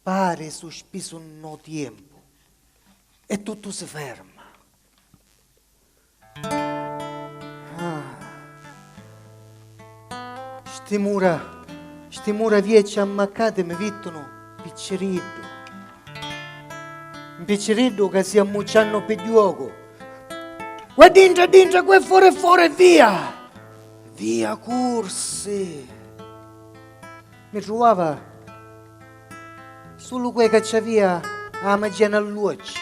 Pari suspisu nno tiempu e tuttu si ferma. Sti mura, sti mura viecci ammaccati mi vittunu picciriddu. Mpicciriddu ca si ammucciannu pi juocu. Qua dintra è dintra, qua è fora è fora e via! Via cursi. Mi truvava sulu cu 'e ca ci avia 'a magia n'alluocci.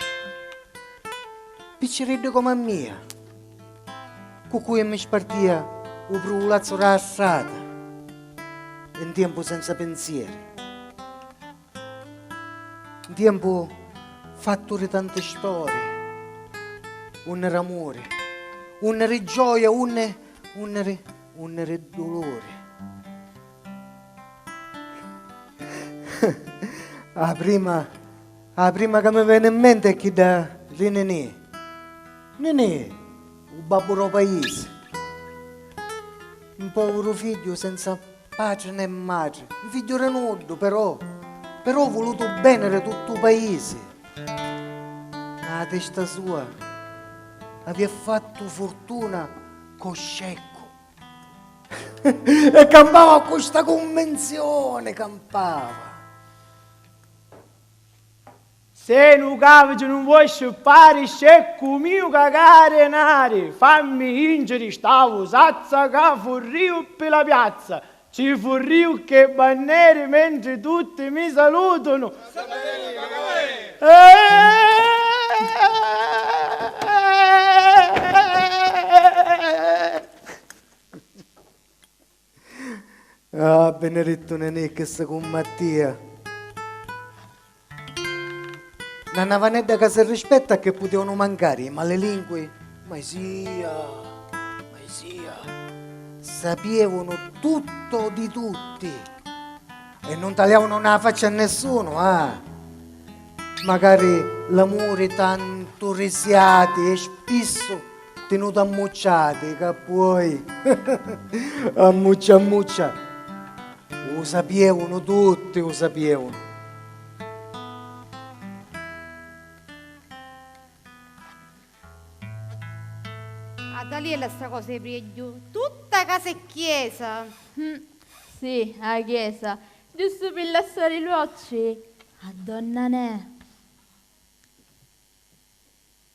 Picciriddu comu a mia, cu cui mi spartia 'u pruvulazzu d' 'a strata e 'n tiempu senza pinzieri. 'n tiempu fattu ri tanti storie, unni r'amuri, unni ri gioia, unni, unni ri, unni ri duluri. A prima, a prima ca mi veni 'n menti è chidda ri Ninì, Ninì, u babbu ro paisi, 'n povuru figghiu senza. Patri nè matri, 'n figghiu ri nuddu, però, però u vulutu u beni ri tuttu u paisi. Nna a testa sua avia fattu furtuna co sceccu. E campava cu sta cunvinzioni, campava. Se lu caviti nun voi scippari sceccu miu cagari nari fammi jinciri sta vusazza ca furriu ppi la piazza ci furriu cche banneri mentri tutti mi salutunu Ah, Benedetto Nenè, che se cumma a tia. Na navanedda ca se rispetta che putevano mancare i malelingui, ma sia, ma sia, sapievano tutto di tutti e non taliavano na faccia a nessuno, ah. Magari l'amore tanto risiati e spisso Tinutu ammucciati ca puoi ammuccia ammuccia u sapievunu tutti u sapievunu. A Daliella sta cosa è priegghiu tutta casa e chiesa. Hm si a chiesa giustu pi lassari l'uocci a donna Nè.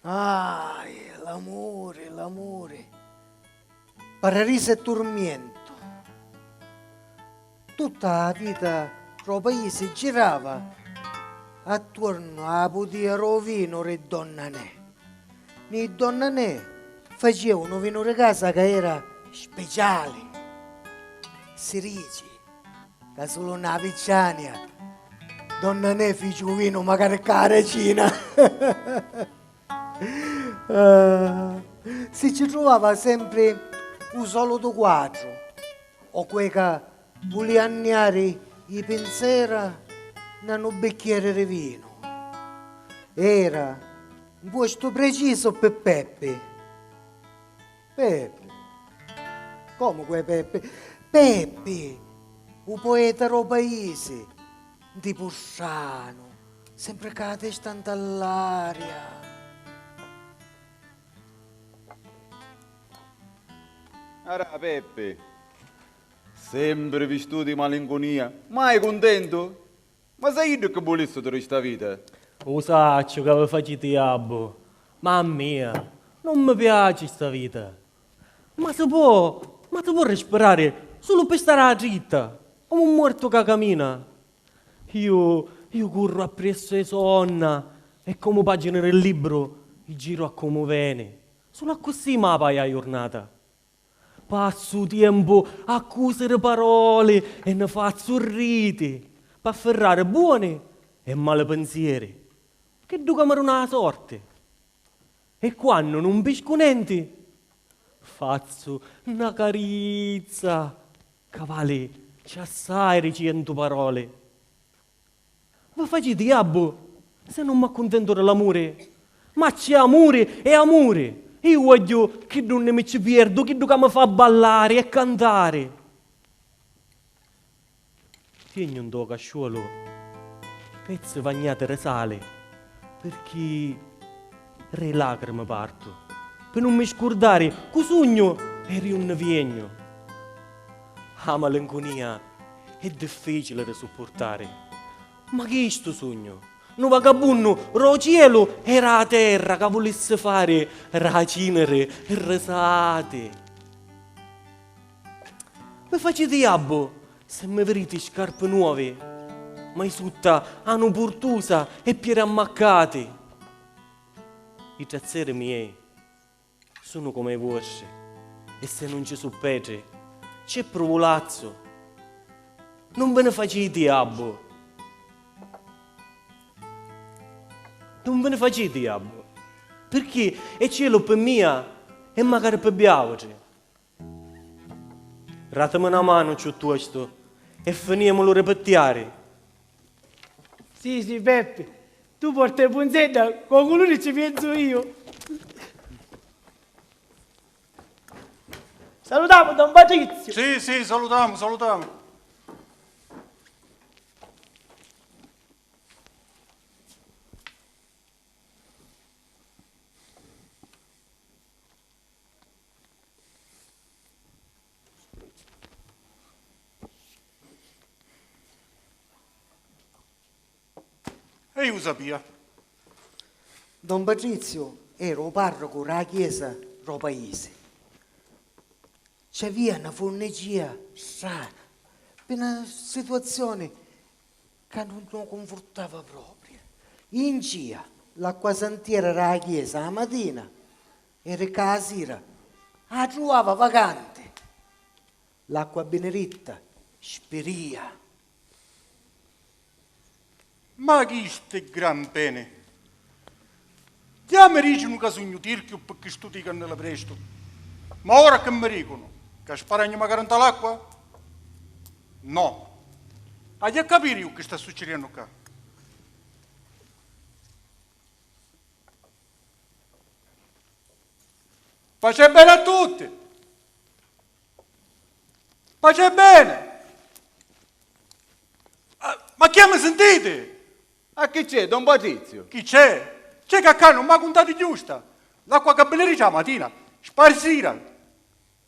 Ahi, l'amuri, l'amuri, pararisa e turmientu. Tutta a vita ro paisi girava attuornu a la pudia ro vinu ri donna Nè. Ni donna Nè facia unu vinu ri casa ca era speciali. Si rici ca sulu nna Avicciania donna Nè fici u vinu macari cca a Racina. Si ci truvava sempri u solutu quatru o cueca Vulìa anniari i pinsera na nu bicchieri ri vinu. Era n puostu precisu pi Peppi. Peppi? Comu cu è Peppi? Peppi, u poeta ro paisi, n tipu stranu, sempri cca a testa nta ll'aria. Ara, Peppi. Sempri vistutu di malincunia. Mai cuntentu? Ma sai iddu cchi vulissi tu di sta vita? U sacciu ca vi faciti jabbu, ma a mia nun mi piaci sta vita. Ma si po', ma si po' rispirari sulu ppi stari a la dritta, comu un muortu ca camina. Iu, iu curru appriessu a i so' onna e comu pagini di libru i giru a comu veni, sulu accussì ma paia a jurnata. Passu tiempu a cusiri paroli e ni fazzu riti p'affirrari buoni e mali pinzieri, chiddu ca mi duna la sorti. E quannu nun piscu nenti, fazzu na carizza ca vali cchiù assai di cientu paroli. Vva faciti jabbu se nun m'accuntentu de l'amuri! Ma c'è amuri e amuri! Iu vogghiu chiddu unni mi ci pierdu, chiddu ca mi fa ballari e cantari! Tiegnu ntô casciuolu pezzi vagnati de sali pirchì. Ri lacrimi partu pi nun mi scurdari cu sugnu e ri unni viegnu. A malincunia è difficili ri suppurtari, ma chistu sugnu, nu vagabunnu ro cielu e ra terra ca vulissi fari ra ciniri risati. Mi faciti jabbu si mi viriti scarpi nuovi, ma i sutta anu purtusa e pieri ammaccati. I trazzeri miei sunu comu i vuostri e si nun ci su petri, ci è pruvulazzu. Nun vi ni faciti jabbu. Nun vi ni faciti jabbu, pirchì è cielu pi mia e macari pi biautri. Ratimi na manu cciuttuostu e finiemu lu ripittiari. Sì, sì, Peppi. Tu porta i punzedda cu o culuri cci pienzu iu. Salutamu don Patrizio! Sì, sì, salutamu, salutamu. E iu u sapia. Don Patriziu era u parrucu ra chiesa ro paisi. Ci avia na furnigia strana, pi na situazioni ca nun u cunfurtava propriu. Jincia l'acquasantiera ra chiesa a matina E ricca a sira. A truava vacanti. L'acqua biniritta, spiria. Ma chi sti gran peni? Già mi dicinu ca sugnu tirchiu pi chistu ticu a nela prestu. Ma ora chi mi dicunu? Ca sparagnu macari nta l'acqua? No. Haju a capiri ju chi sta succiriennu cca. Paci e bene a tutti! Paci e bene! Ma chi è, mi sintiti? A chi c'è, don Patrizio? Chi c'è? C'è ca ccà nun m'ha cuntati chiù sta. L'acqua ca biliri cca 'a matina, sparsira.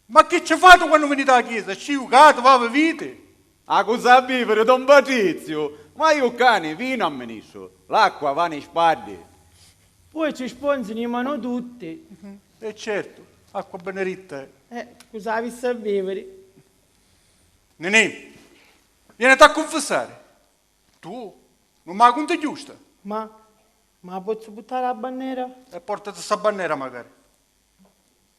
Ma chi ci fati quannu viniti a la chiesa? Ci jucati, va, vi viti? A cu sa biviri, don Patriziu? Ma iu cani, vinu, amministru. L'acqua va ni spaddi. Poi ci sponzi ni manu tutti. E certu, acqua beneditta è. E cu sa avissi a biviri? Ninì, vieniti a cunfissari. Tu nun ma cunti giusta. Ma, ma pozzu puttari la bannera? E portati sa bannera, macari.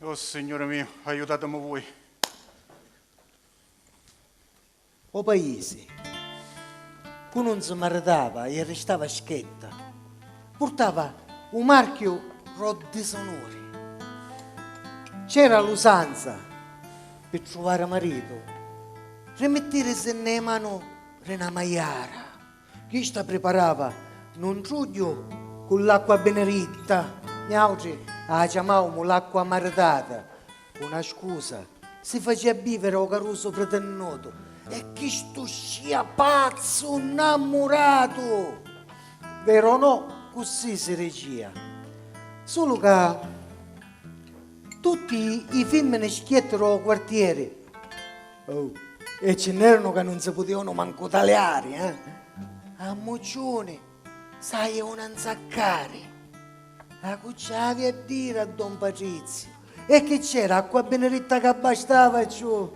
Oh Signuri miu, aiutatimu vui. O paisi, cu nun si maritava e arristava schetta, purtava u marchiu ro disonuri. C'era l'usanza, pi truvari maritu, rimittirisi nne i manu ri na maiara. Chista priparava nu ntrugghiu cu l'acqua biniritta, niautri â ciamaumu l'acqua maritata, cu na scusa, si facia biviri ô carusu pritinnutu e chistu scìa pazzu nnammuratu! Veru o no, cussì si dicìa. Sulu ca tutti i fimmini schièttiru ô quartieri. Oh, e ci n'erano ca nun si putevano mancu taliari, eh? A mucciuni s'aje una 'nzaccari! A cu ci avi a diri a don Patriziu? E chi c'era, acqua biniritta ca bastava e ciù!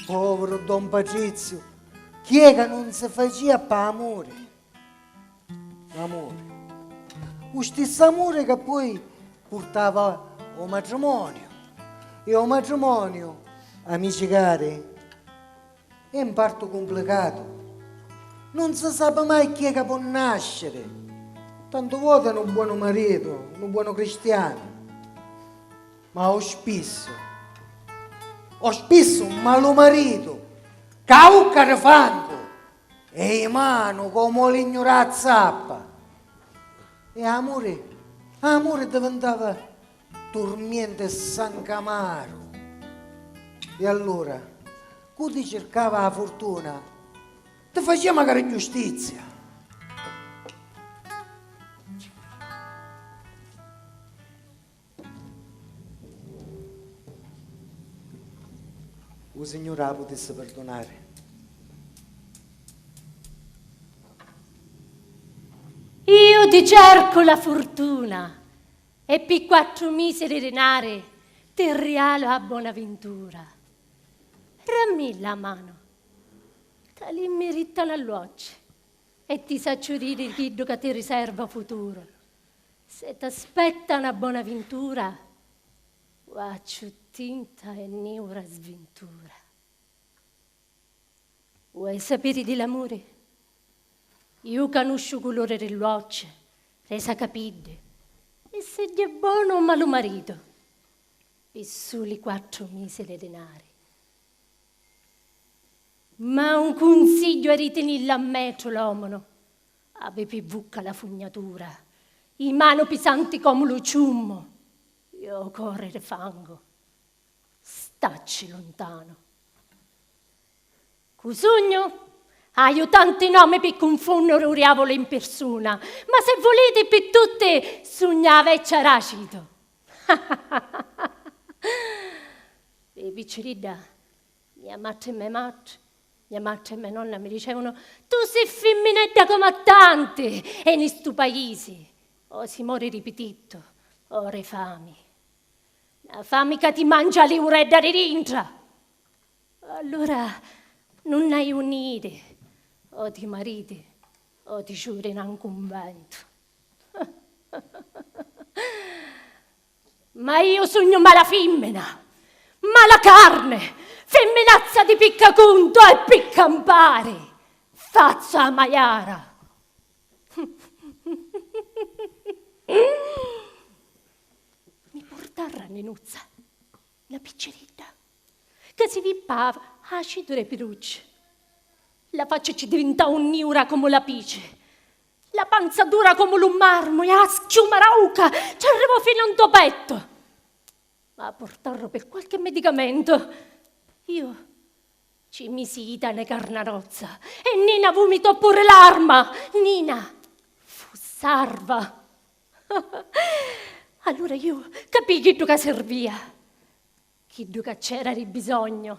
Poviru don Patriziu, chi è ca nun si facia p'amuri? L'amuri. U stissu amuri ca poi purtava o matrimoniu e o matrimoniu, amici cari, è n partu cumplicatu. Nun si sapi mai chi è ca po' nasciri. Tantu voti nu buonu maritu, nu buonu cristianu, ma o spissu, o spissu un malu maritu ca a ucca di fangu E i manu comu o lignu ra zappa. E amuri, amuri divintava turmienti e sancu amaru. E allura, cu ti circava a furtuna, ti facia macari giustizia. U Signuri a putissi pirdunari. Iu ti cercu la furtuna e pi quattru misi di dinari ti rialu a Bonavintura. Rammi la manu, ca li mmirittanu all'uocci e ti sacciu diri chiddu ca ti riserva u futuru. Se t'aspetta 'na bona vintura, va ccu tinta e niura svintura. Vuoi sapiri di l'amuri? Iu canusciu 'u culuri ri l'uocci, ri sa capiddi e siddi è bonu o malu maritu, pi suli quattru misi di dinari. Ma un cunsigghiu è ri tinillu a metru l'omunu, Avi pi vucca la fugnatura, i manu pisanti comu lu ciummu, i o cori ri fangu. Stacci luntanu. Cu sugnu? Haiu tanti nomi pi cunfunnuri u riavulu in pirsuna, ma se vuliti pi tutti sugna a veccia Racitu. Pi picciridda, mia matri me matri Mia matri e mia nonna mi dicevunu, Tu si fimminedda comu a tanti e ni stu paisi, o si mori di pitittu o ri fami. Na fami ca ti mangia li uredda di dintra! Allura nun hai unni iri, o ti mariti o ti ciuri na 'n cumbentu. Ma iu sugnu mala fimmina, mala carne, fimminazza di picca cunto e pi campari fazzu a maiara. Mi purtarra a Ninuzza, na picciridda, ca si vippava acidu re pirucci. La facci ci divintau niura comu la pici. La panza dura comu lu marmu e a schiuma rauca ci arrivò finu nto pettu. Ma a purtarru pi qualche medicamentu, iu ci misi i tane carnarozza e Nina vumitò puru l'arma! Nina fu sarva! Allura iu capii chiddu ca sirvia, chiddu ca c'era di bisognu.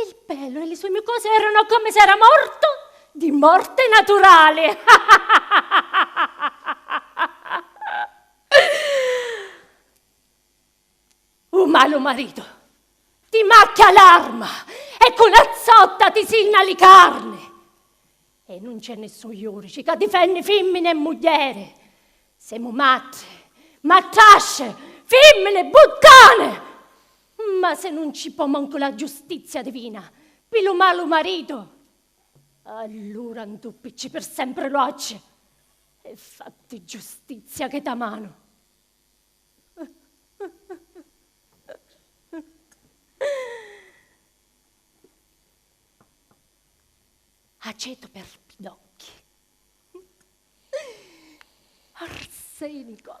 Il pelo e li sue mucose erano come se era morto di morte naturale. U malu marito ti macchia l'arma e cu la zotta ti sinna li carne. E nun c'è nessun iurici ca difenni fimmini e muglieri. Semu matti, mattasce, fimmini, buttane! Ma se nun ci po' mancu la giustizia divina, pi lu malu maritu, allura 'ntuppicci per sempre l'uocchi e fatti giustizia che ta manu. Aceto per pidocchi. Arsenico.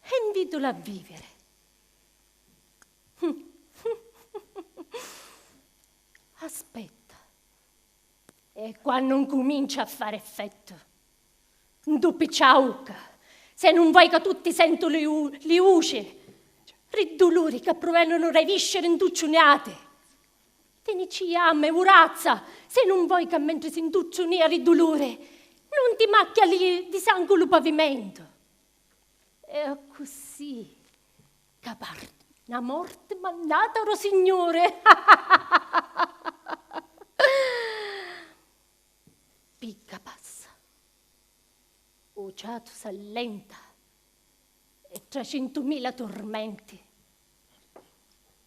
E 'nviddula a viviri. Aspetta, e quannu 'ncumincia a fari effettu? Ndu piccia a ucca, se nun voi ca tutti sentu li li uci, ri duluri ca pruvenunu ra i visceri 'ntucciuniati. Tenicia a me urazza, se nun voi ca mentri si 'ntucciu nia ri duluri, nun ti macchia li di sangu lu pavimentu. E accussì ca parti, na morti mannata ro Signuri! Picca passa, u ciatu s'allenta e tracintumila turmenti.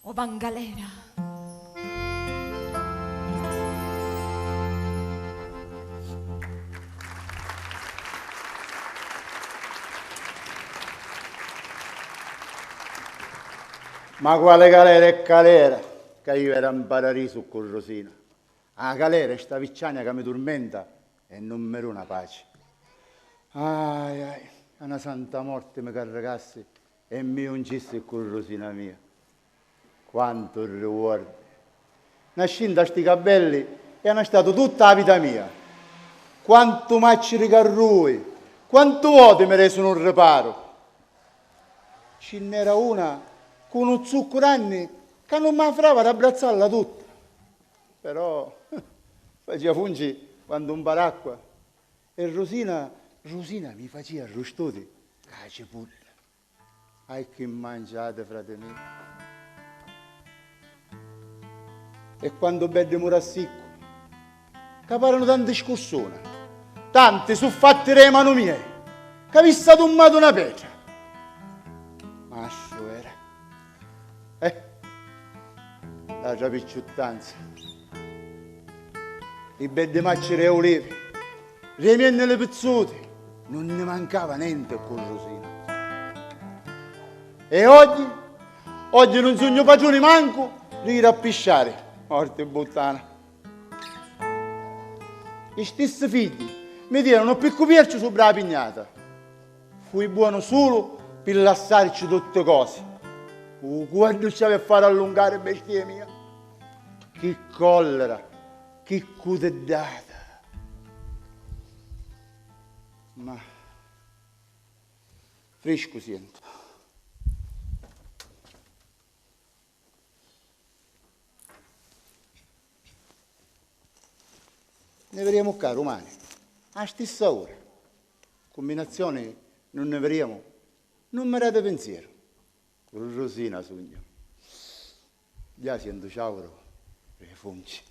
O va 'n galera. Ma quali galera e calera, ca iu era 'n paradisu ccu Rusina. A calera è sta vicciania ca mi turmenta e nun mi duna paci. Ahi, ahi, ca 'na santa morti mi carricassi E mi ungissi ccu Rusina mia. Quantu riuordi! Nascì nta sti cabbelli e ana statu tutta a vita mia. Quantu macciri ca rui! Quantu voti mi resu nu riparu! Ci nn'era una ccu nu zuccu ranni ca nun ma frava d'abbrazzalla tutta. Però facia funci quantu un paracqua. E Rusina, Rusina mi facia arrustudi ca a cipudda. Ahi chi mangiati, frati mi. E quantu beddi murassiccu. Ca paranu tanti scursuna. Tanti su fatti re manu miei. C'avissi adummatu na petra. Mastru era. Eh! L'atra picciuttanza. I beddi macciri e ulivi, remiennili pizzuti, nun nni mancava nenti ccu Rusina. E oggi? Oggi nun sugnu patruni mancu di jiri a pisciari, morti bbuttana! I stissi figghji mi tiranu ppiccu pierciu subra la pignata. Fui buonu sulu pi lassarci tutti cosi. Uh, quantu ci avi a fari allungari, bestia mia! Chi collera, chi cutiddata! Ma. Friscu sientu. Ne viriemu cca rumani, a stissa ura. Cumbinazioni nun nni viriemu. Nun mi dati pinzieru. Rrusina sugnu. Gghià sientu ciauru ri li funci.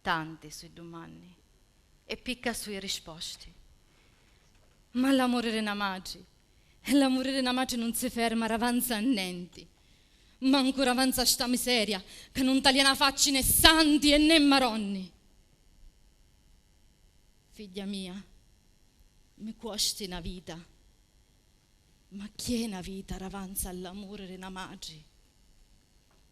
Tanti sui dumanni e picca sui risposti. Ma l'amuri ri na matri e l'amuri ri na matri nun si ferma ravanza a nenti, mancu ravanza a sta miseria ca nun talia na facci né santi e né maronni. Figghia mia, mi cuosti na vita, ma chi è na vita ravanza a l'amuri ri na matri?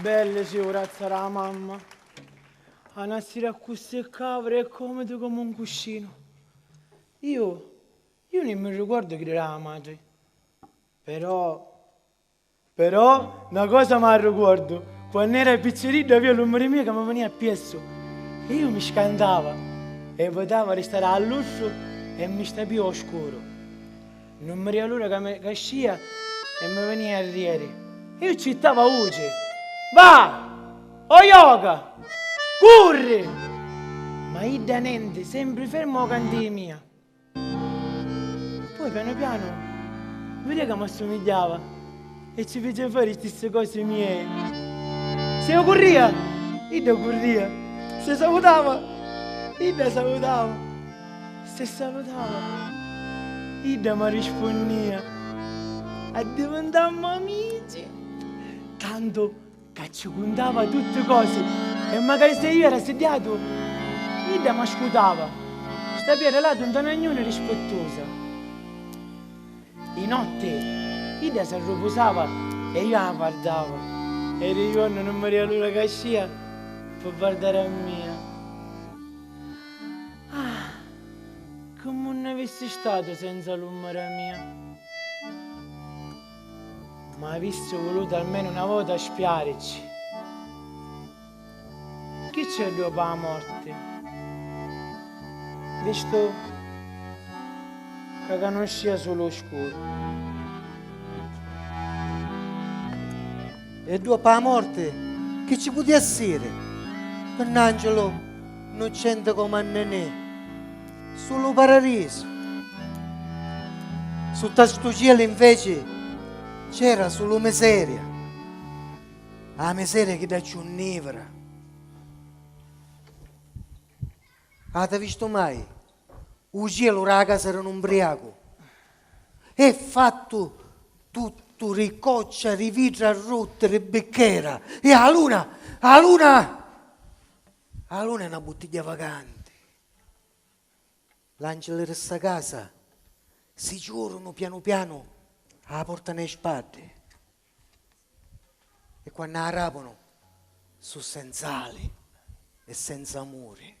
Belli si u razza ra mamma. A na sira accussì cavri e comidi comu un cuscinu. Iu, iu ni mi ricordu chi dira a matri. Però. Però, na cosa m'arrucuordu, quann'era picciriddu avia lu mari mio ca mi venia appiessu e iu mi scantava e votava di stari all'ussu e mi stapia o scuru. Nun mi ria l'ura ca mi cascia e mi venia a rieri. Iu ccittava a vuci, Va! O joca! Curri! Ma idda nenti, sempri ferma o cantìi mia. Poi piano piano vide ca m'assumigliava e ci fece fare i stessi cosi miei. Se io curria, idda curria. Se salutava, idda salutava. Se salutava, idda mi rispunnia. Addivintammu amici. Tantu. Ca ci cuntava tutti cosi e macari se io era siddiatu, idda m'ascutava, sta pia relatu nta na gnuna rispettusa. I notti idda s'arrupusava e io a vardava e ri juornu nun mi ria l'ura ca scìa pi vardari a mia. Ah, comu nn'avissi statu senza l'ummara mia. Ma avissi vulutu almenu na vota spiaricci. Chi c'è dopu 'a morti? Vistu ca canuscia sulu 'u scuru. E dopu 'a morti chi ci puti essiri? Pi n'angiulu 'nnuccenti comu a Nenè. Su lu paradisu. Sutta stu cielu inveci c'era sulu miseria. A miseria chidda cchiù nivra. Ati vistu mai u cielu ra casa ri nu mbriacu? E' fattu tuttu ri coccia, ri vidra rutti, ri bicchera. E a luna, a luna, a luna è na buttigghia vacanti. L'angeli ri sta casa si ciurunu pianu pianu a la porta nei spaddi e quannu a rapunu su senz'ali e senza amuri.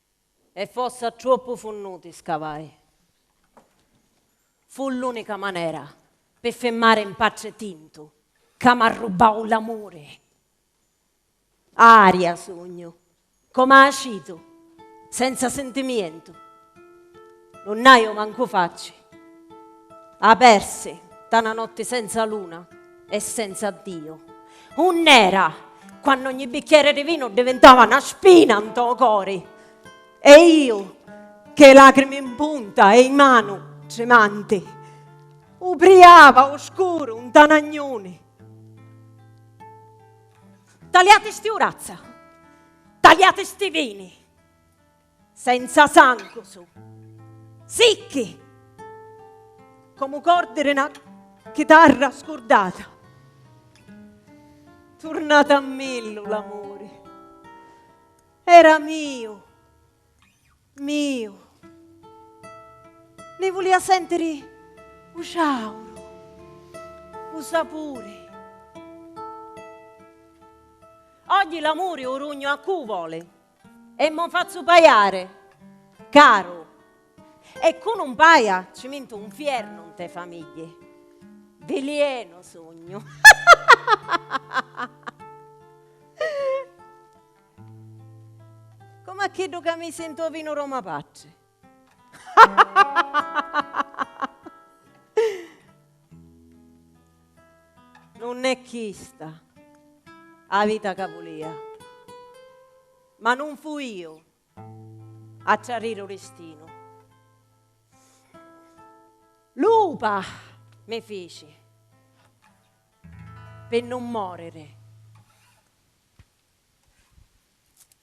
E fossa troppu funnuti scavai. Fu l'unica manera pi fimmari 'n patri tintu ca m'arrubbau l'amuri. Aria sugnu, com'acitu, senza sintimientu. Nun n'haju mancu facci. A persi, nta na notti senza luna e senza Ddiu. Unn'era, quannu ogni bicchieri di vinu divintava na spina nto cori. E iu, chê lacrimi mpunta e i manu trimanti, ubriava u scuru nta na gnuni. Taliati sti urazza! Taliati sti vini! Senza sangu su'. Sicchi! Comu cordi di 'na chitarra scurdata. Turnat' a millu l'amuri. Era miu. Miu. Ni vulia sentiri 'u ciauru. 'u sapuri. Oggi l'amuri 'u rugnu a cu' voli? E mo fazzu paiare, caru. E cu nun paia ci mintu un fiernu nte famigghie. Vilienu sugnu. Comu a chiddu ca misi nto vinu Roma Patri. Nun è chista 'a vita ca vulìa, ma nun fu iu a trarriri 'u distinu. Lupa mi fici pi nun mòriri.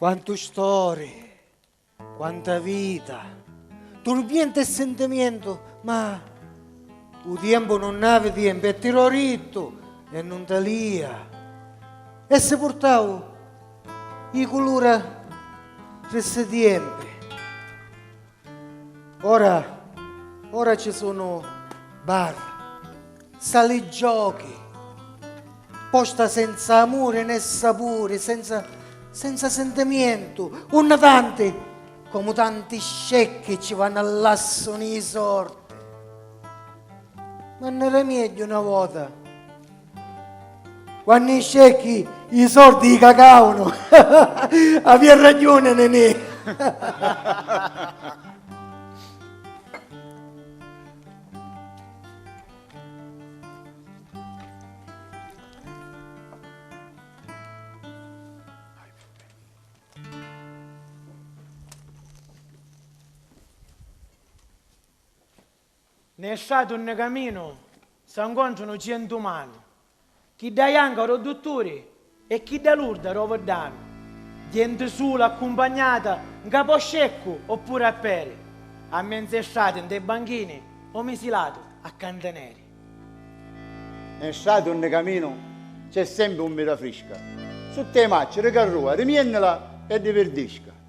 Quantu stori, quanta vita, turbientu e sintimientu, ma 'u tiempu nun havi tiempu e ti l'ho dittu e nun talia. E si purtau 'i culura tri 'sti tiempi. Ora, ora ci sunu bar, sali giochi, posta senza amuri né sapuri, senza, senza sentimientu, unni tanti, comu tanti scecchi ci vannu a lassu ni sorti. Ma n'era miegghiu na vota. Quannu i scecchi i sordi i cacavunu avia ragiuni Nenè. Nè strati unni caminu sa ncontranu cientu manu, chidda janca ro dutturi e chidda lurda ro viddanu, jenti sula accumpagnata nca po sceccu oppuri a peri, a menze strati nte banchini o misilatu a cantineri. Nè strati unni caminu c'è sempi ummita frisca, sutta i macci ri carrua rimiennila e di virdisca.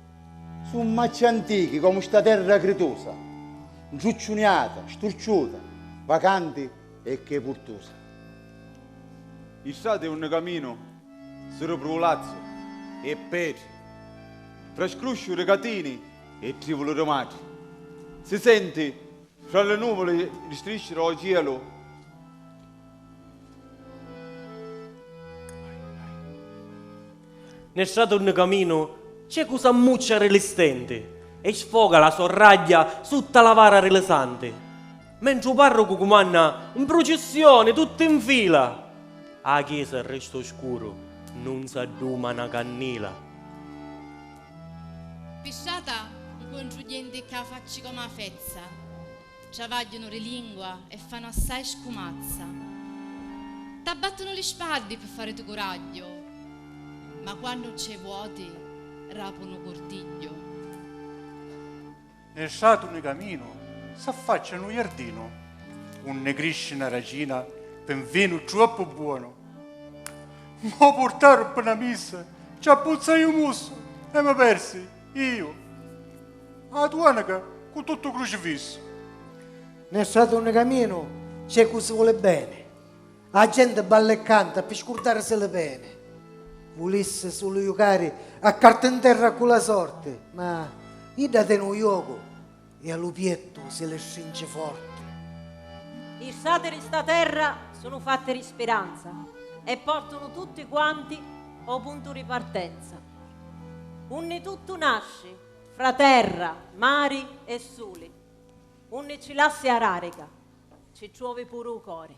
Su' macci antichi comu sta terra critusa, ntrucciuniata, sturciuta, vacanti e che purtusa. I strati unni caminu su' ru prulazzu e petri, fra scrusciu ri catini e trivulu ri matri. Si senti fra li nuvuli ri strisci ro cielu. Nel strato unni caminu ciecu s'ammuccia ri li stenti e sfoga la so ragghia sutta la vara ri li santi, mentri u parrucu cumanna 'n prucissioni tutti 'n fila, a chiesa resta u scuru nun s'adduma na cannila. Pi strata 'ncontru genti c'a facci comu a fezza. Travagghiunu ri lingua e fanu assai scumazza. T'abbattunu li spaddi pi faritu curagghiu, ma quannu nc'è vuoti rapunu curtigghiu. Nni stratu nni caminu s'affaccia nu jardinu unni crisci na racina pi n vinu truoppu buonu. M'o purtaru pi na missa, ci abbuzzai u mussu e mi persi. Iu. A duenica cu tuttu u crucifissu. Nel stratu unni caminu c'è cu si voli beni. A genti balla e canta pi scurdarisi li peni. Vulissi sulu jucari a carta in terra cu la sorti, ma idda teni u jocu. E a lu piettu si li strinci forti. Li strati di sta terra sunu fatti di spiranza e portunu tutti quanti ô puntu di partenza, unni tuttu nasci, fra terra, mari e suli, unni ci lassi a rarica, ci truovi puru u cori.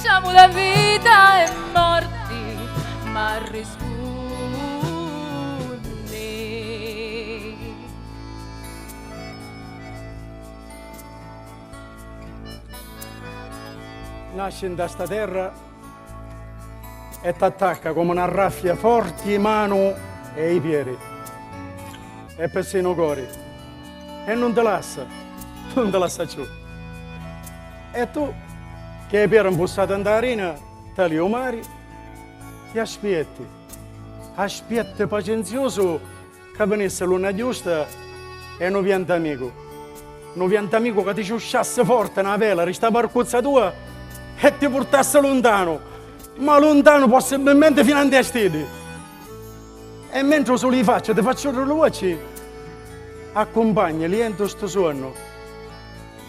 Siamu la vita e morti ma rispunni. Nasci nta sta terra e t'attacca comu na raffia forti i manu e i pieri e persinu u cori e nun ti lassa, nun ti lassa cciù. E tu, chi hai piera mpussata nta arina tali o mari, chi aspietti? Aspietti pacenziusu ca vinissi luna giusta e nu viantamicu, nu viantamicu ca ti ciusciassi forti na vela ri sta varcuzza tua e ti purtassi luntanu, ma luntanu possibbilmenti fina nti a stiddi. E mentri u suli di faccia ti fa ciurri lu vuocci, accumpagni lientu stu suonnu.